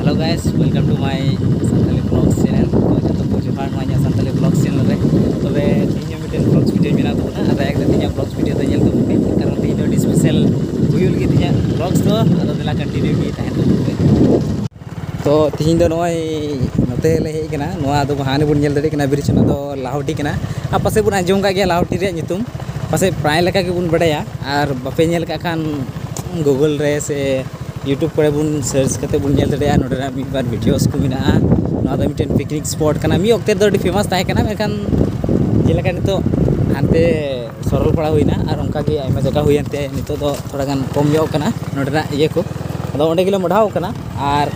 hello guys welcome to my Santali blog channel ᱡᱚᱛᱚ ᱠᱚ ᱡᱚᱦᱟᱨ ᱱᱚᱣᱟ ᱤᱧᱟᱹᱜ ᱥᱟᱱᱛᱟᱞᱤ ᱵᱞᱚᱜ ᱪᱮᱱᱮᱞ ᱨᱮ ᱛᱚᱵᱮ ᱛᱮᱦᱮᱧ ᱦᱚᱸ ᱢᱤᱫᱴᱮᱱ ᱵᱞᱚᱜ ᱵᱷᱤᱰᱤᱭᱳ ᱢᱮᱱᱟᱜ ᱛᱟᱵᱚᱱᱟ ᱟᱨ ᱫᱟᱭᱟ ᱠᱟᱛᱮ ᱤᱧᱟᱹᱜ ᱵᱞᱚᱜ ᱵᱷᱤᱰᱤᱭᱳ ᱫᱚ ᱧᱮᱞ ᱛᱟᱵᱚᱱ ᱯᱮ ᱠᱟᱨᱚᱱ ᱛᱮᱦᱮᱧ ᱫᱚ ᱟᱹᱰᱤ ᱥᱯᱮᱥᱟᱞ ᱦᱩᱭᱩᱜ ᱞᱟᱹᱜᱤᱫ ᱤᱧᱟᱹᱜ ᱵᱞᱚᱜ ᱫᱚ ᱟᱫᱚ ᱫᱮᱞᱟ ᱠᱚᱱᱴᱤᱱᱤᱭᱩ ᱜᱮ ᱛᱟᱦᱮᱱ ᱛᱟᱵᱚᱱ ᱯᱮ ᱛᱚ ᱛᱮᱦᱮᱧ ᱫᱚ ᱱᱚᱜᱼᱚᱭ ᱱᱚᱛᱮ ᱞᱮ ᱦᱮᱡ ᱠᱟᱱᱟ ᱱᱚᱣᱟ ᱫᱚ ᱦᱟᱱᱮ ᱵᱚᱱ ᱧᱮᱞ ᱫᱟᱲᱮᱭᱟᱜ ᱠᱟᱱᱟ ᱵᱨᱤᱡᱽ ᱚᱱᱟ ᱫᱚ ᱞᱟᱦᱚᱴᱤ ᱠᱟᱱᱟ ᱟᱨ ᱯᱟᱥᱮᱡ ᱵᱚᱱ ᱟᱸᱡᱚᱢ ᱠᱟᱜ ᱜᱮᱭᱟ ᱞᱟᱦᱚᱴᱤ ᱨᱮᱭᱟᱜ ᱧᱩᱛᱩᱢ ᱯᱟᱥᱮᱡ ᱯᱨᱟᱭ ᱞᱮᱠᱟ ᱜᱮᱵᱚᱱ ᱵᱟᱰᱟᱭᱟ ᱟᱨ ᱵᱟᱯᱮ ᱧᱮᱞ ᱠᱟᱜ ᱠᱷᱟᱱ ᱜᱩᱜᱚᱞ ᱨᱮ ᱥᱮ ᱤᱭᱩᱴᱩᱵᱽ ᱠᱚᱨᱮ ᱵᱚᱱ ᱥᱟᱨᱪ ᱠᱟᱛᱮ ᱵᱚᱱ ᱧᱮᱞ ᱫᱟᱲᱮᱭᱟᱜᱼᱟ ᱱᱚᱸᱰᱮᱱᱟᱜ ᱢᱤᱫ ᱵᱟᱨ ᱵᱷᱤᱰᱤᱭᱳᱥ ᱠᱚ ᱢᱮᱱᱟᱜᱼᱟ ᱱᱚᱣᱟ ᱫᱚ ᱢᱤᱫᱴᱮᱱ ᱯᱤᱠᱱᱤᱠ ᱥᱯᱚᱴ ᱠᱟᱱᱟ ᱢᱤᱫ ᱚᱠᱛᱮ ᱫᱚ ᱟᱹᱰᱤ ᱯᱷᱮᱢᱟᱥ ᱛᱟᱦᱮᱸ ᱠᱟᱱᱟ ᱢᱮᱱᱠᱷᱟᱱ ᱡᱮᱞᱮᱠᱟ ᱱᱤᱛᱚᱜ ᱦᱟᱱᱛᱮ ᱥᱚᱨᱚᱞᱯᱟᱲᱟ ᱦᱩᱭᱱᱟ ᱟᱨ ᱚᱱᱠᱟ ᱜᱮ ᱟᱭᱢᱟ ᱡᱟᱭᱜᱟ ᱦᱩᱭᱮᱱ ᱛᱮ ᱱᱤᱛᱚᱜ ᱫᱚ ᱛᱷᱚᱲᱟ ᱜᱟᱱ ᱠᱚᱢ ᱧᱚᱜ ᱠᱟᱱᱟ ᱱᱚᱸᱰᱮᱱᱟᱜ ᱤᱭᱟᱹ ᱠᱚ ᱟᱫᱚ ᱚᱸᱰᱮ ᱜᱮᱞᱮ ᱢᱚᱦᱰᱟᱣ ᱠᱟᱱᱟ ᱟᱨ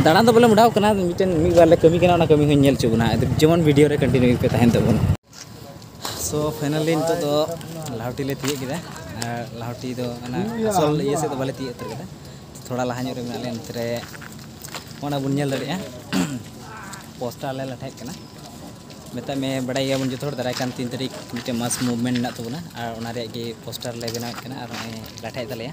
ᱫᱟᱬᱟᱱ ᱫᱚ ᱵᱟᱞᱮ ᱢᱚᱦᱰᱟᱣ ᱠᱟᱱᱟ ᱢᱤᱫᱴᱮᱱ ᱢᱤᱫ ᱵᱟᱨ ᱞᱮ ᱠᱟᱹᱢᱤ ᱠᱟᱱᱟ ᱚᱱᱟ ᱠᱟᱹᱢᱤ ᱦᱚᱸᱧ ᱧᱮᱞ ᱦᱚᱪᱚ ᱵᱚᱱᱟ ᱡᱮᱢᱚᱱ ᱵᱷᱤᱰᱤᱭᱳ ᱨᱮ ᱠᱚᱱᱴᱤᱱᱤᱭᱩ ᱯᱮ ᱛᱟᱦᱮᱱ ᱛᱟᱵᱚᱱ ᱥᱚ ᱯᱷᱟᱭᱱᱟᱞᱤ ᱱᱤᱛᱚᱜ ᱫᱚ ᱞᱟᱦᱟᱣᱴᱤ ᱞᱮ ᱛᱤᱭᱳᱜ ᱠᱮᱫᱟ ᱟᱨ ᱞᱟᱦᱟᱣᱴᱤ ᱫᱚ ᱚᱱᱟ ᱟᱥᱚᱞ ᱤᱭᱟᱹ ᱥᱮᱫ ᱫᱚ ᱵᱟᱞᱮ ᱛᱤᱭᱳᱜ ᱩᱛᱟᱹᱨ ᱠᱮᱫᱟ ᱛᱷᱚᱲᱟ ᱞᱟᱦᱟ ᱧᱚᱜ ᱨᱮ ᱢᱮᱱᱟᱜ ᱞᱮᱭᱟ ᱱᱚᱛᱮ ᱨᱮ ᱚᱱᱟ ᱵᱚᱱ ᱧᱮᱞ ᱫᱟᱲᱮᱭᱟᱜᱼᱟ ᱯᱳᱥᱴᱟᱨ ᱞᱮ ᱞᱟᱴᱷᱟᱭᱮᱫ ᱠᱟᱱᱟ ᱢᱮᱛᱟᱜ ᱢᱮ ᱵᱟᱰᱟᱭ ᱜᱮᱭᱟᱵᱚᱱ ᱡᱚᱛᱚ ᱦᱚᱲ ᱫᱟᱨᱟᱭ ᱠᱟᱱ ᱛᱤᱱ ᱛᱟᱹᱨᱤᱠᱷ ᱢᱤᱫᱴᱮᱱ ᱢᱟᱥ ᱢᱩᱵᱷᱢᱮᱱᱴ ᱢᱮᱱᱟᱜ ᱛᱟᱵᱚᱱᱟ ᱟᱨ ᱚᱱᱟ ᱨᱮᱭᱟᱜ ᱜᱮ ᱯᱳᱥᱴᱟᱨ ᱞᱮ ᱵᱮᱱᱟᱣᱮᱫ ᱠᱟᱱᱟ ᱟᱨ ᱱᱚᱜᱼᱚᱭ ᱞᱟᱴᱷᱟᱭᱮᱫ ᱛᱟᱞᱮᱭᱟ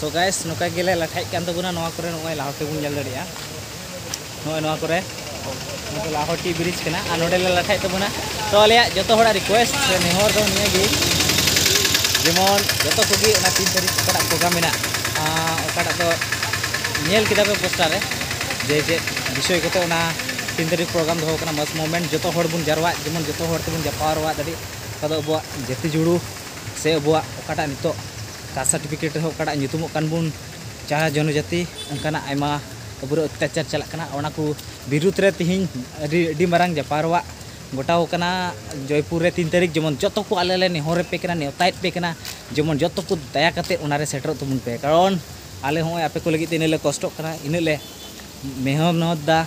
ᱥᱚ ᱜᱟᱭᱥ ᱱᱚᱝᱠᱟ ᱜᱮᱞᱮ ᱞᱟᱴᱷᱟᱭᱮᱫ ᱠᱟᱱ ᱛᱟᱵᱚᱱᱟ ᱱᱚᱣᱟ ᱠᱚᱨᱮ ᱱᱚᱜᱼᱚᱭ ᱞᱟᱦᱚᱴᱤ ᱵᱚᱱ ᱧᱮᱞ ᱫᱟᱲᱮᱭᱟᱜᱼᱟ ᱱᱚᱜᱼᱚᱭ ᱱᱚᱣᱟ ᱠᱚᱨᱮ ᱱᱚᱣᱟ ᱫᱚ ᱞᱟᱦᱚᱴᱤ ᱵᱨᱤᱡᱽ ᱠᱟᱱᱟ ᱟᱨ ᱱᱚᱰᱮ ᱞᱮ ᱞᱟᱴᱷᱟᱭᱮᱫ ᱛᱟᱵᱚᱱᱟ ᱛᱚ ᱟᱞᱮᱭᱟᱜ ᱡᱚᱛᱚ ᱦᱚᱲᱟᱜ ᱨᱤᱠᱩᱭᱮᱥᱴ ᱥᱮ ᱱᱮᱦᱚᱨ ᱫᱚ ᱱᱤᱭᱟᱹ ᱜᱮ ᱡᱮᱢᱚᱱ ᱡᱚᱛᱚ ᱠᱚᱜᱮ ᱚᱱᱟ ᱛᱤᱱ ᱛᱟᱹᱨᱤᱠᱷ ᱚᱠᱟᱴᱟᱜ ᱯᱨᱳᱜᱨᱟᱢ ᱢᱮᱱᱟᱜ ᱚᱠᱟᱴᱟᱜ ᱫᱚ ᱧᱮᱞ ᱠᱮᱫᱟ ᱯᱮ ᱯᱳᱥᱴᱟᱨ ᱨᱮ ᱡᱮ ᱪᱮᱫ ᱵᱤᱥᱚᱭ ᱠᱚᱛᱮ ᱚᱱᱟ ᱛᱤᱱ ᱛᱟᱹᱨᱤᱠᱷ ᱯᱨᱳᱜᱨᱟᱢ ᱫᱚᱦᱚ ᱠᱟᱱᱟ ᱢᱟᱥ ᱢᱩᱵᱷᱢᱮᱱᱴ ᱡᱚᱛᱚ ᱦᱚᱲ ᱵᱚᱱ ᱡᱟᱨᱣᱟᱜ ᱡᱮᱢᱚᱱ ᱡᱚᱛᱚ ᱦᱚᱲ ᱛᱮᱵᱚᱱ ᱡᱟᱯᱟᱣ ᱨᱚᱣᱟᱜ ᱫᱟᱲᱮᱜ ᱚᱠᱟ ᱫᱚ ᱟᱵᱚᱣᱟᱜ ᱡᱟᱹᱛᱤ ᱡᱩᱲᱩ ᱥᱮ ᱟᱵᱚᱣᱟᱜ ᱚᱠᱟᱴᱟᱜ ᱱᱤᱛᱚᱜ ᱠᱟᱥᱴ ᱥᱟᱨᱴᱤᱯᱷᱤᱠᱮᱴ ᱨᱮᱦᱚᱸ ᱚᱠᱟᱴᱟᱜ ᱧᱩᱛᱩᱢᱚᱜ ᱠᱟᱱ ᱵᱚᱱ ᱪᱟᱦᱟ ᱡᱚᱱᱚ ᱡᱟᱹᱛᱤ ᱚᱱᱠᱟᱱᱟᱜ ᱟᱭᱢᱟ ᱟᱵᱚᱨᱮ ᱚᱛᱛᱟᱪᱟᱨ ᱪᱟᱞᱟᱜ ᱠᱟᱱᱟ ᱚᱱᱟ ᱠᱚ ᱵᱤᱨᱩᱫᱷ ᱨᱮ ᱛᱮᱦᱮᱧ ᱟᱹᱰᱤ ᱟᱹᱰᱤ ᱢᱟᱨᱟᱝ ᱡᱟᱯᱟᱨᱣᱟᱜ ᱜᱚᱴᱟᱣ ᱠᱟᱱᱟ ᱡᱚᱭᱯᱩᱨ ᱨᱮ ᱛᱤᱱ ᱛᱟᱹᱨᱤᱠᱷ ᱡᱮᱢᱚᱱ ᱡᱚᱛᱚ ᱠᱚ ᱟᱞᱮ ᱞᱮ ᱱᱮᱦᱚᱨ ᱟᱯᱮ ᱠᱟᱱᱟ ᱱᱮᱣᱛᱟᱭᱮᱫ ᱯᱮ ᱠᱟᱱᱟ ᱡᱮᱢᱚᱱ ᱡᱚᱛᱚ ᱠᱚ ᱫᱟᱭᱟ ᱠᱟᱛᱮ ᱚᱱᱟ ᱨᱮ ᱥᱮᱴᱮᱨᱚᱜ ᱛᱟᱵᱚᱱ ᱯᱮ ᱠᱟᱨᱚᱱ ᱟᱞᱮ ᱦᱚᱸᱜᱼᱚᱭ ᱟᱯᱮ ᱠᱚ ᱞᱟᱹᱜᱤᱫ ᱛᱮ ᱤᱱᱟᱹᱜ ᱞᱮ ᱠᱚᱥᱴᱚᱜ ᱠᱟᱱᱟ ᱤᱱᱟᱹᱜ ᱞᱮ ᱢᱮᱦᱱᱚᱛ ᱮᱫᱟ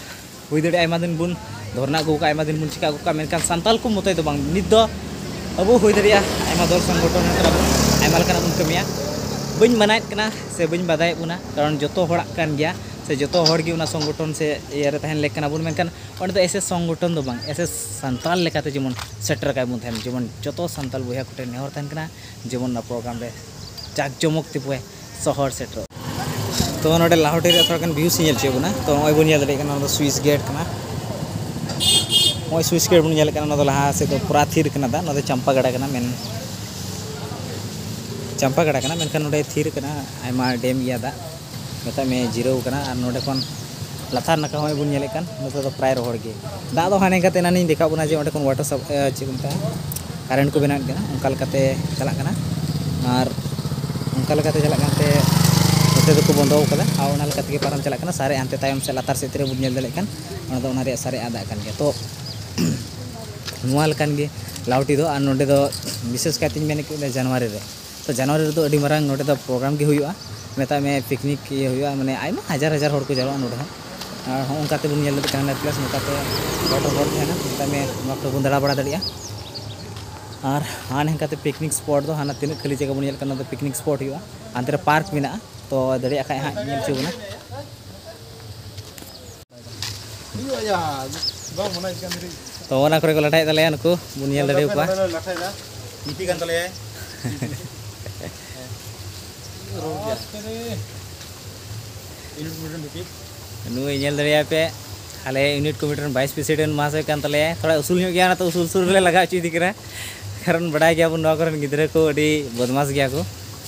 ᱦᱩᱭ ᱫᱟᱲᱮᱭᱟᱜᱼᱟ ᱟᱭᱢᱟ ᱫᱤᱱ ᱵᱚᱱ ᱫᱷᱚᱨᱱᱟ ᱟᱹᱜᱩ ᱠᱟᱜᱼᱟ ᱟᱭᱢᱟ ᱫᱤᱱ ᱵᱚᱱ ᱪᱤᱠᱟ ᱟᱹᱜᱩ ᱠᱟᱜᱼᱟ ᱢᱮᱱᱠᱷᱟᱱ ᱥᱟᱱᱛᱟᱞ ᱠᱚ ᱢᱚᱛᱚᱡ ᱫᱚ ᱵᱟᱝ ᱱᱤᱛ ᱫᱚ ᱟᱵᱚ ᱦᱩᱭ ᱫᱟᱲᱮᱭᱟᱜᱼᱟ ᱟᱭᱢᱟ ᱫᱚᱞ ᱥᱚᱝᱜᱚᱴᱷᱚᱱ ᱟᱭᱢᱟ ᱞᱮᱠᱟᱱᱟᱜ ᱵᱚᱱ ᱠᱟᱹᱢᱤᱭᱟ ᱵᱟᱹᱧ ᱢᱟᱱᱟᱭᱮᱫ ᱠᱟᱱᱟ ᱥᱮ ᱵᱟᱹᱧ ᱵᱟᱫᱷᱟᱭᱮᱫ ᱵᱚᱱᱟ ᱠᱟᱨᱚᱱ ᱡᱚᱛᱚ ᱦᱚᱲᱟᱜ ᱠᱟᱱ ᱜᱮᱭᱟ ᱥᱮ ᱡᱚᱛᱚ ᱦᱚᱲ ᱜᱮ ᱚᱱᱟ ᱥᱚᱝᱜᱚᱴᱷᱚᱱ ᱥᱮ ᱤᱭᱟᱹ ᱨᱮ ᱛᱟᱦᱮᱱ ᱞᱮᱠ ᱠᱟᱱᱟ ᱵᱚᱱ ᱢᱮᱱᱠᱷᱟᱱ ᱚᱸᱰᱮ ᱫᱚ ᱮᱭᱥᱮ ᱥᱚᱝᱜᱚᱴᱷᱚᱱ ᱫᱚ ᱵᱟᱝ ᱮᱭᱥᱮ ᱥᱟᱱᱛᱟᱞ ᱞᱮᱠᱟᱛᱮ ᱡᱮᱢᱚᱱ ᱥᱮᱴᱮᱨ ᱠᱟᱭ ᱵᱚᱱ ᱛᱟᱦᱮᱱ ᱡᱮᱢᱚᱱ ᱡᱚᱛᱚ ᱥᱟᱱᱛᱟᱞ ᱵᱚᱭᱦᱟ ᱠᱚᱴᱷᱮᱱ ᱱᱮᱦᱚᱨ ᱛᱟᱦᱮᱱ ᱠᱟᱱᱟ ᱡᱮᱢᱚᱱ ᱚᱱᱟ ᱯᱨᱳᱜᱨᱟᱢ ᱨᱮ ᱡᱟᱠ ᱡᱚᱢᱚᱠ ᱛᱮᱵᱚ ᱥᱚᱦᱚᱨ ᱥᱮᱴᱮᱨᱚᱜ ᱛᱚ ᱱᱚᱰᱮ ᱞᱟᱦᱚᱴᱤ ᱨᱮ ᱛᱷᱚᱲᱟ ᱜᱟᱱ ᱵᱷᱤᱭᱩᱥ ᱧᱮᱞ ᱦᱚᱪᱚᱭᱮᱫ ᱵᱚᱱᱟ ᱛᱚ ᱱᱚᱜᱼᱚᱭ ᱵᱚᱱ ᱧᱮᱞ ᱫᱟᱲᱮᱭᱟᱜ ᱠᱟᱱᱟ ᱱᱚᱣᱟ ᱫᱚ ᱥᱩᱭᱤᱥ ᱜᱮᱴ ᱠᱟᱱᱟ ᱱᱚᱜᱼᱚᱭ ᱥᱩᱭᱤᱥ ᱜᱮᱴ ᱵᱚᱱ ᱧᱮᱞ ᱠᱟᱱᱟ ᱱᱚᱣᱟ ᱫᱚ ᱞᱟᱦᱟ ᱥᱮᱫ ᱫᱚ ᱯᱩᱨᱟ ᱛᱷᱤᱨ ᱠᱟᱱᱟ ᱫᱟᱜ ᱱᱚᱣᱟ ᱫᱚ ᱪᱟᱢᱯᱟ ᱜᱟᱰᱟ ᱠᱟᱱᱟ ᱢᱮᱱ ᱪᱟᱢᱯᱟ ᱜᱟᱰᱟ ᱠᱟᱱᱟ ᱢᱮᱱᱠᱷᱟᱱ ᱱᱚᱰᱮ ᱛᱷᱤᱨ ᱠᱟᱱᱟ ᱟᱭᱢᱟ ᱰᱮᱢ ᱜᱮᱭᱟ ᱫᱟᱜ ᱢᱮᱛᱟᱜ ᱢᱮ ᱡᱤᱨᱟᱹᱣ ᱠᱟᱱᱟ ᱟᱨ ᱱᱚᱰᱮ ᱠᱷᱚᱱ ᱞᱟᱛᱟᱨ ᱱᱟᱠᱷᱟ ᱦᱚᱸᱜᱼᱚᱭ ᱵᱚᱱ ᱧᱮᱞᱮᱫ ᱠᱟᱱ ᱱᱚᱛᱮ ᱫᱚ ᱯᱨᱟᱭ ᱨᱚᱦᱚᱲ ᱜᱮ ᱫᱟᱜ ᱫᱚ ᱦᱟᱱᱮ ᱠᱟᱛᱮ ᱮᱱᱟᱱᱤᱧ ᱫᱮᱠᱷᱟᱣ ᱵᱚᱱᱟ ᱡᱮ ᱚᱸᱰᱮ ᱠᱷᱚᱱ ᱣᱟᱴᱟᱨ ᱥᱟᱯ ᱪᱮᱫ ᱠᱚ ᱢᱮᱛᱟᱜᱼᱟ ᱠᱟᱨᱮᱱᱴ ᱠᱚ ᱵᱮᱱᱟᱣᱮᱫ ᱠᱟᱱᱟ ᱚᱱᱠᱟ ᱞᱮᱠᱟᱛᱮ ᱪᱟᱞᱟᱜ ᱠᱟᱱᱟ ᱟᱨ ᱚᱱᱠᱟ ᱞᱮᱠᱟᱛᱮ ᱪᱟᱞᱟᱜ ᱠᱟᱱᱛᱮ ᱱᱚᱛᱮ ᱫᱚᱠᱚ ᱵᱚᱱᱫᱚ ᱟᱠᱟᱫᱟ ᱟᱨ ᱚᱱᱟ ᱞᱮᱠᱟ ᱛᱮᱜᱮ ᱯᱟᱨᱚᱢ ᱪᱟᱞᱟᱜ ᱠᱟᱱᱟ ᱥᱟᱨᱮᱡ ᱦᱟᱱᱛᱮ ᱛᱟᱭᱚᱢ ᱥᱮᱫ ᱞᱟᱛᱟᱨ ᱥᱮᱫ ᱛᱤᱱᱟᱹᱜ ᱵᱚᱱ ᱧᱮᱞ ᱫᱟᱲᱮᱭᱟᱜ ᱠᱟᱱ ᱚᱱᱟ ᱫᱚ ᱚᱱᱟ ᱨᱮᱭᱟᱜ ᱥᱟᱨᱮᱡ ᱟᱜ ᱫᱟᱜ ᱠᱟᱱ ᱜᱮᱭᱟ ᱛᱚ ᱱᱚᱣᱟ ᱞᱮᱠᱟᱱ ᱜᱮ ᱞᱟᱣᱴᱤ ᱫᱚ ᱟᱨ ᱱᱚᱰᱮ ᱫᱚ ᱵᱤᱥᱮᱥ ᱠᱟᱭᱛᱮᱧ ᱢᱮᱱ ᱠᱮᱫ ᱡᱟᱱᱩᱣᱟᱨᱤ ᱨᱮ ᱛᱚ ᱡᱟᱱᱩᱣᱟᱨᱤ ᱨᱮᱫᱚ ᱟᱹᱰᱤ ᱢᱟᱨᱟᱝ ᱱᱚᱸᱰᱮ ᱫᱚ ᱯᱨᱳᱜᱨᱟᱢ ᱜᱮ ᱦᱩᱭᱩᱜᱼᱟ ᱢᱮᱛᱟᱜ ᱢᱮ ᱯᱤᱠᱱᱤᱠ ᱤᱭᱟᱹ ᱦᱩᱭᱩᱜᱼᱟ ᱢᱟᱱᱮ ᱟᱭᱢᱟ ᱦᱟᱡᱟᱨ ᱦᱟᱡᱟᱨ ᱦᱚᱲ ᱠᱚ ᱡᱟᱣᱨᱟᱜᱼᱟ ᱱᱚᱸᱰᱮ ᱦᱚᱸ ᱟᱨ ᱦᱚᱸ ᱚᱱᱠᱟ ᱛᱮᱵᱚᱱ ᱧᱮᱞ ᱞᱮᱠᱷᱟᱱ ᱡᱟᱦᱟᱱᱟᱜ ᱯᱞᱮᱥ ᱱᱚᱝᱠᱟ ᱛᱮ ᱦᱚᱲ ᱦᱚᱲ ᱛᱟᱦᱮᱱᱟ ᱢᱮᱛᱟᱜ ᱢᱮ ᱱᱚᱣᱟ ᱠᱚᱨᱮ ᱵᱚᱱ ᱫᱟᱬᱟ ᱵᱟᱲᱟ ᱫᱟᱲᱮᱭᱟᱜᱼᱟ ᱟᱨ ᱦᱟᱱᱟ ᱱᱷᱟᱝᱠᱟ ᱛᱮ ᱯᱤᱠᱱᱤᱠ ᱥᱯᱚᱴ ᱫᱚ ᱦᱟᱱᱟ ᱛᱤᱱᱟᱹᱜ ᱠᱷᱟᱹᱞᱤ ᱡᱟᱭᱜᱟ ᱵᱚᱱ ᱧᱮᱞ ᱠᱟᱱᱟ ᱚᱱᱟ ᱫᱚ ᱯᱤᱠᱱᱤᱠ ᱥᱯᱚᱴ ᱦᱩᱭᱩᱜᱼᱟ ᱦᱟᱱᱛᱮ ᱨᱮ ᱯᱟᱨᱠ ᱢᱮᱱᱟᱜᱼᱟ ᱛᱚ ᱫᱟᱲᱮᱭᱟᱜ ᱠᱷᱟᱱ ᱦᱟᱸᱜ ᱧᱮᱞ ᱦᱚᱪᱚ ᱵᱚᱱᱟ ᱛᱚ ᱚᱱᱟ ᱠᱚᱨᱮ ᱠᱚ ᱞᱟᱴᱟᱭᱮᱫ ᱛᱟᱞᱮᱭᱟ ᱱᱩᱠᱩ ᱵᱚᱱ ᱧᱮᱞ ᱫᱟᱲᱮ ᱟᱠᱚᱣᱟ ᱱᱤᱯᱤ ᱠᱟᱱ ᱛᱟᱞᱮᱭᱟᱭ ᱱᱩᱭ ᱧᱮᱞ ᱫᱟᱲᱮᱭᱟᱭ ᱯᱮ ᱟᱞᱮ ᱤᱭᱩᱱᱤᱴ ᱠᱚᱢᱤᱴᱤ ᱨᱮᱱ ᱵᱷᱟᱭᱤᱥ ᱯᱨᱮᱥᱤᱰᱮᱱᱴ ᱢᱟᱦᱟᱥᱚᱭ ᱠᱟᱱ ᱛᱟᱞᱮᱭᱟ ᱛᱷᱚᱲᱟ ᱩᱥᱩᱞ ᱧᱚᱜ ᱜᱮᱭᱟ ᱚᱱᱟᱛᱮ ᱩᱥᱩᱞ ᱩᱥᱩᱞ ᱨᱮᱞᱮ ᱞᱟᱜᱟ ᱦᱚᱪᱚᱭᱮᱫᱮ ᱠᱟᱱᱟ ᱠᱟᱨᱚᱱ ᱵᱟᱰᱟᱭ ᱜᱮᱭᱟᱵᱚᱱ ᱱᱚᱣᱟ ᱠᱚᱨᱮᱱ ᱜᱤᱫᱽᱨᱟᱹ ᱠᱚ ᱟᱹᱰᱤ ᱵᱚᱫᱢᱟᱥ ᱜᱮᱭᱟ ᱠᱚ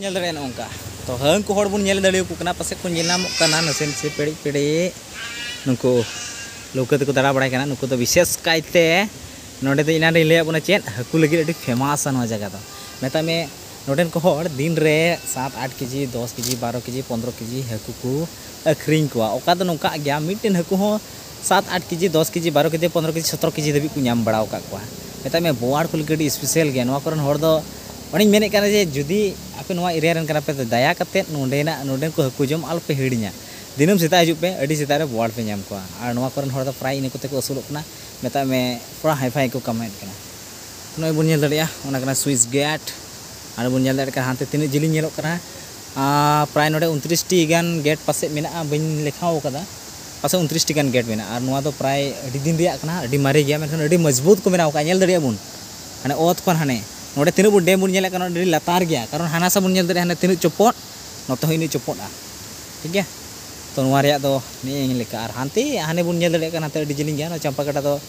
ᱧᱮᱞ ᱫᱟᱲᱮᱭᱟᱜᱼᱟ ᱱᱚᱝᱠᱟ ᱛᱚ ᱦᱟᱹᱝᱠᱩ ᱦᱚᱲ ᱵᱚᱱ ᱧᱮᱞ ᱫᱟᱲᱮᱭᱟᱠᱚ ᱠᱟᱱᱟ ᱯᱟᱥᱮᱡ ᱠᱚ ᱧᱮᱞ ᱧᱟᱢᱚᱜ ᱠᱟᱱᱟ ᱱᱟᱥᱮ ᱱᱟᱥᱮ ᱯᱮᱲᱮᱡ ᱯᱮᱲᱮᱡ ᱱᱩᱠᱩ ᱞᱟᱹᱣᱠᱟᱹ ᱛᱮᱠᱚ ᱫᱟᱬᱟ ᱵᱟᱲᱟᱭ ᱠᱟᱱᱟ ᱱᱩᱠᱩ ᱫᱚ ᱵᱤᱥᱮᱥ ᱠᱟᱭᱛᱮ ᱱᱚᱰᱮ ᱫᱚ ᱮᱱᱟᱱ ᱨᱮᱧ ᱞᱟᱹᱭᱟᱫ ᱵᱚᱱᱟ ᱪᱮᱫ ᱦᱟᱹᱠᱩ ᱞᱟᱹᱜᱤᱫ ᱟᱹᱰᱤ ᱯᱷᱮᱢᱟᱥᱟ ᱱᱚᱣᱟ ᱡᱟᱭᱜᱟ ᱫᱚ ᱢᱮᱛᱟᱜ ᱢᱮ ᱱᱚᱰᱮᱱ ᱠᱚ ᱦᱚᱲ ᱫᱤᱱ ᱨᱮ ᱥᱟᱛ ᱟᱴ ᱠᱮᱡᱤ ᱫᱚᱥ ᱠᱮᱡᱤ ᱵᱟᱨᱚ ᱠᱮᱡᱤ ᱯᱚᱱᱫᱨᱚ ᱠᱮᱡᱤ ᱦᱟᱹᱠᱩ ᱠᱚ ᱟᱹᱠᱷᱨᱤᱧ ᱠᱚᱣᱟ ᱚᱠᱟ ᱫᱚ ᱱᱚᱝᱠᱟᱜ ᱜᱮᱭᱟ ᱢᱤᱫᱴᱮᱱ ᱦᱟᱹᱠᱩ ᱦᱚᱸ ᱥᱟᱛ ᱟᱴ ᱠᱮᱡᱤ ᱫᱚᱥ ᱠᱮᱡᱤ ᱵᱟᱨᱚ ᱠᱮᱡᱤ ᱯᱚᱱᱨᱚ ᱠᱮᱡᱤ ᱥᱚᱛᱨᱚ ᱠᱮᱡᱤ ᱫᱷᱟᱹᱵᱤᱡ ᱠᱚ ᱧᱟᱢ ᱵᱟᱲᱟ ᱟᱠᱟᱫ ᱠᱚᱣᱟ ᱢᱮᱛᱟᱜ ᱢᱮ ᱵᱳᱣᱟᱲ ᱠᱚ ᱞᱟᱹᱜᱤᱫ ᱟᱹᱰᱤ ᱥᱯᱮᱥᱟᱞ ᱜᱮᱭᱟ ᱱᱚᱣᱟ ᱠᱚᱨᱮᱱ ᱦᱚᱲ ᱫᱚ ᱚᱱᱮᱧ ᱢᱮᱱᱮᱫ ᱠᱟᱱᱟ ᱡᱮ ᱡᱩᱫᱤ ᱟᱯᱮ ᱱᱚᱣᱟ ᱮᱨᱤᱭᱟ ᱨᱮᱱ ᱠᱟᱱᱟ ᱯᱮ ᱛᱚ ᱫᱟᱭᱟ ᱠᱟᱛᱮ ᱱᱚᱰᱮᱱᱟᱜ ᱱᱚᱰᱮᱱ ᱠᱚ ᱦᱟᱹᱠᱩ ᱡᱚᱢ ᱟᱞᱚ ᱯᱮ ᱦᱤᱲᱤᱧᱟ ᱫᱤᱱᱟᱹᱢ ᱥᱮᱛᱟᱜ ᱦᱤᱡᱩᱜ ᱯᱮ ᱟᱹᱰᱤ ᱥᱮᱛᱟᱜ ᱨᱮ ᱵᱳᱣᱟᱲ ᱯᱮ ᱧᱟᱢ ᱠᱚᱣᱟ ᱟᱨ ᱱᱚᱣᱟ ᱠᱚᱨᱮᱱ ᱦᱚᱲ ᱫᱚ ᱯᱨᱟᱭ ᱤᱱᱟᱹ ᱠᱚᱛᱮ ᱠᱚ ᱟᱹᱥᱩᱞᱚᱜ ᱠᱟᱱᱟ ᱢᱮᱛᱟᱜ ᱢᱮ ᱛᱷᱚᱲᱟ ᱦᱟᱭ ᱯᱷᱟᱭ ᱠᱚ ᱠᱟᱢᱟᱣᱮᱫ ᱠᱟᱱᱟ ᱱᱚᱜᱼᱚᱭ ᱵᱚᱱ ᱧᱮᱞ ᱫᱟᱲᱮᱭᱟᱜᱼᱟ ᱚᱱᱟ ᱠᱟᱱᱟ ᱥᱩᱭᱤᱥ ᱜᱮᱴ ᱟᱨ ᱵᱚᱱ ᱧᱮᱞ ᱫᱟᱲᱮᱭᱟᱜ ᱠᱟᱱᱟ ᱦᱟᱱᱛᱮ ᱛᱤᱱᱟᱹᱜ ᱡᱤᱞᱤᱧ ᱧᱮᱞᱚᱜ ᱠᱟᱱᱟ ᱯᱨᱟᱭ ᱱᱚᱰᱮ ᱩᱱᱛᱨᱤᱥᱴᱤ ᱜᱟᱱ ᱜᱮᱴ ᱯᱟᱥᱮᱡ ᱢᱮᱱᱟᱜᱼᱟ ᱵᱟᱹᱧ ᱞᱮᱠᱷᱟᱣ ᱠᱟᱫᱟ ᱯᱟᱥᱮ ᱩᱱᱛᱨᱤᱥ ᱴᱤ ᱜᱟᱱ ᱜᱮᱴ ᱢᱮᱱᱟᱜᱼᱟ ᱟᱨ ᱱᱚᱣᱟ ᱫᱚ ᱯᱨᱟᱭ ᱟᱹᱰᱤ ᱫᱤᱱ ᱨᱮᱭᱟᱜ ᱠᱟᱱᱟ ᱟᱹᱰᱤ ᱢᱟᱨᱮ ᱜᱮᱭᱟ ᱢᱮᱱᱠᱷᱟᱱ ᱟᱹᱰᱤ ᱢᱚᱡᱽᱵᱩᱛ ᱠᱚ ᱵᱮᱱᱟᱣ ᱟᱠᱟᱫᱼᱟ ᱧᱮᱞ ᱫᱟᱲᱮᱭᱟᱜ ᱟᱵᱚᱱ ᱦᱟᱱᱮ ᱚᱛ ᱠᱷᱚᱱ ᱦᱟᱱᱮ ᱱᱚᱰᱮ ᱛᱤᱱᱟᱹᱜ ᱵᱚᱱ ᱰᱮᱢ ᱵᱚᱱ ᱧᱮᱞᱮᱫ ᱠᱟᱱᱟ ᱟᱹᱰᱤ ᱞᱟᱛᱟᱨ ᱜᱮᱭᱟ ᱠᱟᱨᱚᱱ ᱦᱟᱱᱟ ᱥᱟ ᱵᱚᱱ ᱧᱮᱞ ᱫᱟᱲᱮᱭᱟᱜᱼᱟ ᱦᱟᱱᱮ ᱛᱤᱱᱟᱹᱜ ᱪᱚᱯᱚᱫ ᱱᱚᱛᱮ ᱦᱚᱸ ᱤᱱᱟᱹᱜ ᱪᱚᱯᱚᱫᱼᱟ ᱴᱷᱤᱠ ᱜᱮᱭᱟ ᱛᱚ ᱱᱚᱣᱟ ᱨᱮᱭᱟᱜ ᱫᱚ ᱱᱮᱜᱼᱮ ᱱᱤᱭᱟᱹ ᱞᱮᱠᱟ ᱟᱨ ᱦᱟᱱᱛᱮ ᱦᱟᱱᱮ ᱵᱚᱱ ᱧᱮᱞ ᱫᱟᱲᱮᱭᱟᱜ ᱠᱟᱱᱟ ᱦᱟᱱᱛᱮ ᱟᱹᱰᱤ ᱡᱤᱞᱤᱧ ᱜᱮᱭᱟ ᱱᱚᱣᱟ ᱪᱟᱢᱯᱟ ᱜᱟᱰᱟ ᱫᱚ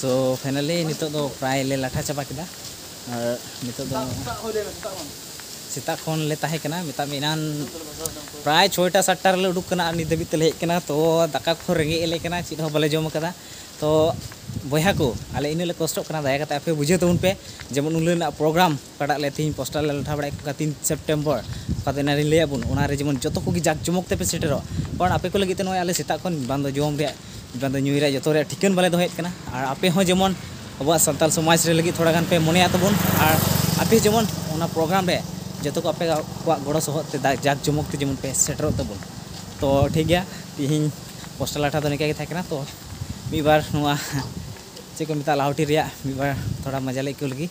ᱥᱳ ᱯᱷᱟᱭᱱᱟᱞᱤ ᱱᱤᱛᱚᱜ ᱫᱚ ᱯᱨᱟᱭ ᱞᱮ ᱞᱟᱴᱷᱟ ᱪᱟᱵᱟ ᱠᱮᱫᱟ ᱟᱨ ᱱᱤᱛᱚᱜ ᱫᱚ ᱥᱮᱛᱟᱜ ᱠᱷᱚᱱ ᱞᱮ ᱛᱟᱦᱮᱸ ᱠᱟᱱᱟ ᱢᱮᱛᱟᱜ ᱢᱮ ᱮᱱᱟᱱ ᱯᱨᱟᱭ ᱪᱷᱚᱭᱴᱟ ᱥᱟᱛᱴᱟ ᱨᱮᱞᱮ ᱩᱰᱩᱠ ᱠᱟᱱᱟ ᱟᱨ ᱱᱤᱛ ᱫᱷᱟᱹᱵᱤᱡ ᱛᱮᱞᱮ ᱦᱮᱡ ᱠᱟᱱᱟ ᱛᱚ ᱫᱟᱠᱟ ᱠᱚᱦᱚᱸ ᱨᱮᱸᱜᱮᱡ ᱮᱞᱮ ᱠᱟᱱᱟ ᱪᱮᱫ ᱦᱚᱸ ᱵᱟᱞᱮ ᱡᱚᱢ ᱟᱠᱟᱫᱟ ᱛᱚ ᱵᱚᱭᱦᱟ ᱠᱚ ᱟᱞᱮ ᱤᱱᱟᱹᱜ ᱞᱮ ᱠᱚᱥᱴᱚᱜ ᱠᱟᱱᱟ ᱫᱟᱭᱟ ᱠᱟᱛᱮ ᱟᱯᱮ ᱵᱩᱡᱷᱟᱹᱣ ᱛᱟᱵᱚᱱ ᱯᱮ ᱡᱮᱢᱚᱱ ᱩᱱ ᱦᱤᱞᱳᱜ ᱨᱮᱱᱟᱜ ᱯᱨᱳᱜᱨᱟᱢ ᱚᱠᱟᱴᱟᱜ ᱞᱮ ᱛᱮᱦᱮᱧ ᱯᱚᱥᱴᱟᱨ ᱞᱮ ᱞᱟᱴᱷᱟ ᱵᱟᱲᱟᱭᱮᱫ ᱠᱟᱱᱟ ᱛᱤᱱ ᱥᱮᱯᱴᱮᱢᱵᱚᱨ ᱚᱠᱟ ᱫᱚ ᱮᱱᱟᱱ ᱨᱤᱧ ᱞᱟᱹᱭᱟᱫ ᱵᱚᱱ ᱚᱱᱟ ᱨᱮ ᱡᱮᱢᱚᱱ ᱡᱚᱛᱚ ᱠᱚᱜᱮ ᱡᱟᱠ ᱡᱚᱢᱚᱠ ᱛᱮᱯᱮ ᱥᱮᱴᱮᱨᱚᱜ ᱠᱟᱨᱚᱱ ᱟᱯᱮ ᱠᱚ ᱞᱟᱹᱜᱤᱫ ᱛᱮ ᱱᱚᱜᱼᱚᱭ ᱟᱞᱮ ᱥᱮᱛᱟᱜ ᱠᱷᱚᱱ ᱵᱟᱝ ᱫᱚ ᱡᱚᱢ ᱨᱮᱭᱟᱜ ᱵᱟᱝ ᱫᱚ ᱧᱩᱭ ᱨᱮᱭᱟᱜ ᱡᱚᱛᱚ ᱨᱮᱭᱟᱜ ᱴᱷᱤᱠᱟᱹᱱ ᱵᱟᱞᱮ ᱫᱚᱦᱚᱭᱮᱫ ᱠᱟᱱᱟ ᱟᱨ ᱟᱯᱮ ᱦᱚᱸ ᱡᱮᱢᱚᱱ ᱟᱵᱚᱣᱟᱜ ᱥᱟᱱᱛᱟᱲ ᱥᱚᱢᱟᱡᱽ ᱨᱮ ᱞᱟᱹᱜᱤᱫ ᱛᱷᱚᱲᱟ ᱜᱟᱱ ᱯᱮ ᱢᱚᱱᱮᱭᱟ ᱛᱟᱵᱚᱱ ᱟᱨ ᱟᱯᱮ ᱡᱮᱢᱚᱱ ᱚᱱᱟ ᱯᱨᱳᱜᱨᱟᱢ ᱨᱮ ᱡᱚᱛᱚ ᱠᱚ ᱟᱯᱮ ᱠᱚᱣᱟᱜ ᱜᱚᱲᱚ ᱥᱚᱦᱚᱫ ᱛᱮ ᱡᱟᱠ ᱡᱚᱢᱚᱠ ᱛᱮ ᱡᱮᱢᱚᱱ ᱯᱮ ᱥᱮᱴᱮᱨᱚᱜ ᱛᱟᱵᱚᱱ ᱛᱚ ᱴᱷᱤᱠ ᱜᱮᱭᱟ ᱛᱮᱦᱮᱧ ᱯᱚᱥᱴᱟᱨ ᱞᱟᱴᱷᱟ ᱫᱚ ᱱᱤᱝᱠᱟᱹ ᱜᱮ ᱛᱟᱦᱮᱸ ᱠᱟᱱᱟ ᱛᱚ ᱢᱤᱫ ᱵᱟᱨ ᱱᱚᱣᱟ ᱪᱮᱫ ᱠᱚ ᱢᱮᱛᱟᱜᱼᱟ ᱞᱟᱦᱩᱴᱤ ᱨᱮᱭᱟᱜ ᱢᱤᱫ ᱵᱟᱨ ᱛᱷᱚᱲᱟ ᱢᱟᱡᱟ ᱞᱮ ᱟᱹᱭᱠᱟᱹᱣ ᱞᱟᱹᱜᱤᱫ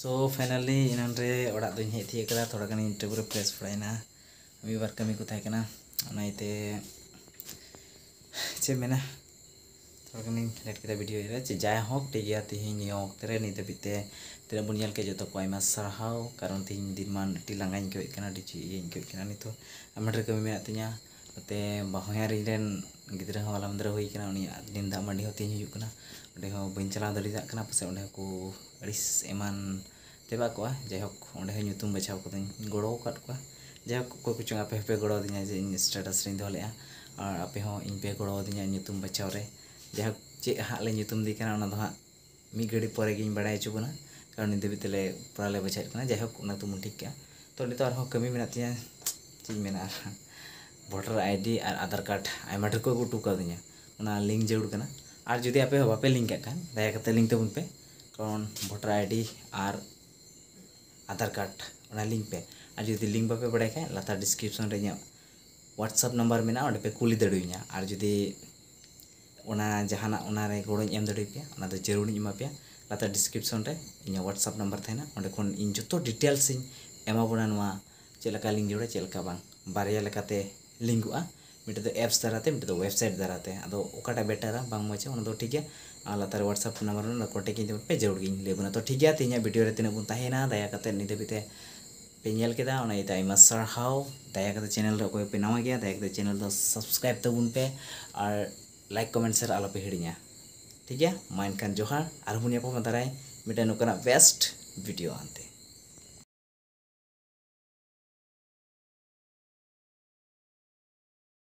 ᱥᱳ ᱯᱷᱟᱭᱱᱟᱞᱤ ᱮᱱᱟᱱ ᱨᱮ ᱚᱲᱟᱜ ᱫᱚᱧ ᱦᱮᱡ ᱛᱤᱭᱟᱹᱜ ᱠᱟᱫᱟ ᱛᱷᱚᱲᱟ ᱜᱟᱱᱤᱧ ᱴᱮᱵᱽ ᱨᱮ ᱯᱷᱨᱮᱥ ᱵᱟᱲᱟᱭᱮᱱᱟ ᱢᱤᱫ ᱵᱟᱨ ᱠᱟᱹᱢᱤ ᱠᱚ ᱛᱟᱦᱮᱸ ᱠᱟᱱᱟ ᱚᱱᱟ ᱤᱭᱟᱹᱛᱮ ᱪᱮᱫ ᱢᱮᱱᱟ ᱛᱷᱚᱲᱟ ᱜᱟᱱᱤᱧ ᱞᱮᱴ ᱠᱮᱫᱟ ᱵᱷᱤᱰᱤᱭᱳ ᱨᱮ ᱪᱮᱫ ᱡᱟᱭ ᱦᱳᱠ ᱴᱷᱤᱠ ᱜᱮᱭᱟ ᱛᱤᱦᱤᱧ ᱱᱤᱭᱟᱹ ᱚᱠᱛᱮ ᱨᱮ ᱱᱤᱛ ᱫᱷᱟᱹᱵᱤᱡ ᱛᱮ ᱛᱤᱱᱟᱹᱜ ᱵᱚᱱ ᱧᱮᱞ ᱠᱮᱫ ᱡᱚᱛᱚ ᱠᱚ ᱟᱭᱢᱟ ᱥᱟᱨᱦᱟᱣ ᱠᱟᱨᱚᱱ ᱛᱤᱦᱤᱧ ᱫᱤᱱᱢᱟᱱ ᱟᱹᱰᱤ ᱞᱟᱸᱜᱟᱧ ᱟᱹᱭᱠᱟᱹᱣᱮᱫ ᱠᱟᱱᱟ ᱟᱹᱰᱤ ᱪᱮᱫ ᱤᱭᱟᱹᱧ ᱟᱹᱭᱠᱟᱹᱣᱮᱫ ᱠᱟᱱᱟ ᱱᱤᱛᱚᱜ ᱟᱭᱢᱟ ᱰᱷᱮᱨ ᱠᱟᱹᱢᱤ ᱢᱮᱱᱟᱜ ᱛᱤᱧᱟᱹ ᱱᱚᱛᱮ ᱵᱟᱦᱚᱧᱦᱟᱨᱤᱧ ᱨᱮᱱ ᱜᱤᱫᱽᱨᱟᱹ ᱦᱚᱸ ᱦᱚᱞᱟ ᱢᱟᱫᱷᱮᱨᱮ ᱦᱩᱭ ᱠᱟᱱᱟ ᱩᱱᱤᱭᱟᱜ ᱛᱮᱦᱮᱧ ᱫᱟᱜ ᱢᱟᱹᱰᱤ ᱦᱚᱸ ᱛᱮᱦᱮᱧ ᱦᱩᱭᱩᱜ ᱠᱟᱱᱟ ᱚᱸᱰᱮ ᱦᱚᱸ ᱵᱟᱹᱧ ᱪᱟᱞᱟᱣ ᱫᱟᱲᱮᱭᱟᱜ ᱠᱟᱱᱟ ᱯᱟᱥᱮᱡ ᱚᱸᱰᱮ ᱦᱚᱸᱠᱚ ᱟᱹᱲᱤᱥ ᱮᱢᱟᱱ ᱛᱮᱵᱟᱫ ᱠᱚᱜᱼᱟ ᱡᱟᱭᱦᱳᱠ ᱚᱸᱰᱮ ᱦᱚᱸ ᱧᱩᱛᱩᱢ ᱵᱟᱪᱷᱟᱣ ᱠᱚᱫᱚᱧ ᱜᱚᱲᱚ ᱟᱠᱟᱫ ᱠᱚᱣᱟ ᱡᱟᱭᱦᱳᱠ ᱚᱠᱚᱭ ᱠᱚᱪᱚᱝ ᱟᱯᱮ ᱦᱚᱸᱯᱮ ᱜᱚᱲᱚ ᱟᱹᱫᱤᱧᱟ ᱡᱮ ᱤᱧ ᱥᱴᱮᱴᱟᱥ ᱨᱤᱧ ᱫᱚᱦᱚ ᱞᱮᱫᱼᱟ ᱟᱨ ᱟᱯᱮ ᱦᱚᱸ ᱤᱧ ᱯᱮ ᱜᱚᱲᱚ ᱟᱹᱫᱤᱧᱟ ᱧᱩᱛᱩᱢ ᱵᱟᱪᱷᱟᱣ ᱨᱮ ᱡᱟᱭᱦᱳᱠ ᱪᱮᱫ ᱦᱟᱸᱜ ᱞᱮ ᱧᱩᱛᱩᱢ ᱟᱫᱮ ᱠᱟᱱᱟ ᱚᱱᱟ ᱫᱚ ᱦᱟᱸᱜ ᱢᱤᱫ ᱜᱷᱟᱹᱲᱤᱡ ᱯᱚᱨᱮ ᱜᱤᱧ ᱵᱟᱲᱟᱭ ᱦᱚᱪᱚ ᱵᱚᱱᱟ ᱠᱟᱨᱚᱱ ᱱᱤᱛ ᱫᱷᱟᱹᱵᱤᱡ ᱛᱮᱞᱮ ᱯᱨᱟᱭ ᱞᱮ ᱵᱚᱡᱷᱟᱭᱮᱫ ᱠᱟᱱᱟ ᱡᱟᱭᱦᱳᱠ ᱚᱱᱟ ᱠᱚᱫᱚ ᱵᱚᱱ ᱴᱷᱤᱠ ᱠᱟᱜᱼᱟ ᱛᱚ ᱱᱤᱛᱚᱜ ᱟᱨᱦᱚᱸ ᱠᱟᱹᱢᱤ ᱢᱮᱱᱟᱜ ᱛᱤᱧᱟᱹ ᱪᱮᱫ ᱤᱧ ᱢᱮᱱᱟ ᱟᱨ ᱵᱷᱳᱴᱟᱨ ᱟᱭᱰᱤ ᱟᱨ ᱟᱫᱷᱟᱨ ᱠᱟᱨᱰ ᱟᱭᱢᱟ ᱰᱷᱮᱨ ᱠᱚ ᱟᱹᱜᱩ ᱦᱚᱴᱚ ᱠᱟᱣᱫᱤᱧᱟ ᱚᱱᱟ ᱞᱤᱝᱠ ᱡᱟᱹᱨᱩᱲ ᱠᱟᱱᱟ ᱟᱨ ᱡᱩᱫᱤ ᱟᱯᱮ ᱦᱚᱸ ᱵᱟᱯᱮ ᱞᱤᱝᱠ ᱠᱟᱜ ᱠᱷᱟᱱ ᱫᱟᱭᱟ ᱠᱟᱛᱮ ᱞᱤᱝᱠ ᱛᱟᱵᱚᱱ ᱯᱮ ᱠᱟᱨᱚᱱ ᱵᱷᱳᱴᱟᱨ ᱟᱭᱰᱤ ᱟᱨ ᱟᱫᱷᱟᱨ ᱠᱟᱨᱰ ᱚᱱᱟ ᱞᱤᱝᱠ ᱯᱮ ᱟᱨ ᱡᱩᱫᱤ ᱞᱤᱝᱠ ᱵᱟᱯᱮ ᱵᱟᱲᱟᱭ ᱠᱷᱟᱱ ᱞᱟᱛᱟᱨ ᱰᱤᱥᱠᱨᱤᱯᱥᱚᱱ ᱨᱮ ᱤᱧᱟᱹᱜ ᱦᱳᱣᱟᱴᱥᱮᱯ ᱱᱟᱢᱵᱟᱨ ᱢᱮᱱᱟᱜᱼᱟ ᱚᱸᱰᱮ ᱯᱮ ᱠᱩᱞᱤ ᱫᱟᱲᱮᱭᱟᱹᱧᱟ ᱟᱨ ᱡᱩᱫᱤ ᱚᱱᱟ ᱡᱟᱦᱟᱱᱟᱜ ᱚᱱᱟᱨᱮ ᱜᱚᱲᱚᱧ ᱮᱢ ᱫᱟᱲᱮᱭᱟᱯᱮᱭᱟ ᱚᱱᱟ ᱫᱚ ᱡᱟᱹᱨᱩᱲᱤᱧ ᱮᱢᱟ ᱯᱮᱭᱟ ᱞᱟᱛᱟᱨ ᱰᱤᱥᱠᱨᱤᱯᱥᱚᱱ ᱨᱮ ᱤᱧᱟᱹᱜ ᱦᱳᱣᱟᱴᱥᱮᱯ ᱱᱟᱢᱵᱟᱨ ᱛᱟᱦᱮᱱᱟ ᱚᱸᱰᱮ ᱠᱷᱚᱱ ᱤᱧ ᱡᱚᱛᱚ ᱰᱤᱴᱮᱞᱥ ᱤᱧ ᱮᱢᱟ ᱵᱚᱱᱟ ᱱᱚᱣᱟ ᱪᱮᱫ ᱞᱮᱠᱟ ᱞᱤᱝᱠ ᱡᱟᱹᱨᱩᱲᱟ ᱪᱮᱫ ᱞᱮᱠᱟ ᱵᱟᱝ ᱵᱟᱨᱭᱟ ᱞᱮᱠᱟᱛᱮ ᱞᱤᱝᱠᱚᱜᱼᱟ ᱢᱤᱫᱴᱮᱱ ᱫᱚ ᱮᱯᱥ ᱫᱟᱨᱟᱭ ᱛᱮ ᱢᱤᱫᱴᱮᱱ ᱫᱚ ᱳᱭᱮᱵᱽᱥᱟᱭᱤᱴ ᱫᱟᱨᱟᱭ ᱛᱮ ᱟᱫᱚ ᱚᱠᱟᱴᱟᱜ ᱵᱮᱴᱟᱨᱟ ᱵᱟᱝ ᱢᱚᱡᱟ ᱚᱱᱟ ᱫᱚ ᱴᱷᱤᱠ ᱜᱮᱭᱟ ᱟᱨ ᱞᱟᱛᱟᱨ ᱨᱮ ᱦᱳᱣᱟᱴᱥᱮᱯ ᱱᱟᱢᱵᱟᱨ ᱢᱮᱱᱟᱜᱼᱟ ᱠᱚᱱᱴᱮᱠᱴ ᱤᱧ ᱛᱟᱵᱚᱱ ᱯᱮ ᱡᱟᱹᱨᱩᱲ ᱜᱮᱧ ᱞᱟᱹᱭ ᱟᱵᱚᱱᱟ ᱛᱚ ᱴᱷᱤᱠ ᱜᱮᱭᱟ ᱛᱮᱦᱮᱧᱟᱜ ᱵᱷᱤᱰᱤᱭᱳ ᱨᱮ ᱛᱤᱱᱟᱹᱜ ᱵᱚᱱ ᱛᱟᱦᱮᱸᱭᱮᱱᱟ ᱫᱟᱭᱟ ᱠᱟᱛᱮᱫ ᱱᱤᱛ ᱫᱷᱟᱹᱵᱤᱡ ᱛᱮ ᱯᱮ ᱧᱮᱞ ᱠᱮᱫᱟ ᱚᱱᱟ ᱤᱭᱟᱹᱛᱮ ᱟᱭᱢᱟ ᱥᱟᱨᱦᱟᱣ ᱫᱟᱭᱟ ᱠᱟᱛᱮ ᱪᱮᱱᱮᱞ ᱨᱮ ᱚᱠᱚᱭ ᱯᱮ ᱱᱟᱣᱟ ᱜᱮᱭᱟ ᱫᱟᱭᱟ ᱠᱟᱛᱮ ᱪᱮᱱᱮᱞ ᱫᱚ ᱥᱟᱵᱥᱠᱨᱟᱭᱤᱵ ᱛᱟᱵᱚᱱ ᱯᱮ ᱟᱨ ᱞᱟᱭᱤᱠ ᱠᱚᱢᱮᱱᱴ ᱥᱮᱭᱟᱨ ᱟᱞᱚ ᱯᱮ ᱦᱤᱲᱤᱧᱟ ᱴᱷᱤᱠ ᱜᱮᱭᱟ ᱢᱟ ᱮᱱᱠᱷᱟᱱ ᱡᱚᱦᱟᱨ ᱟᱨᱦᱚᱸ ᱵᱚᱱ ᱧᱟᱯᱟᱢᱟ ᱫᱟᱨᱟᱭ ᱢᱤᱫᱴᱟᱝ ᱱᱚᱝᱠᱟᱱᱟᱜ ᱵᱮᱥᱴ ᱵᱷᱤᱰᱤᱭᱳ ᱟᱱᱛᱮ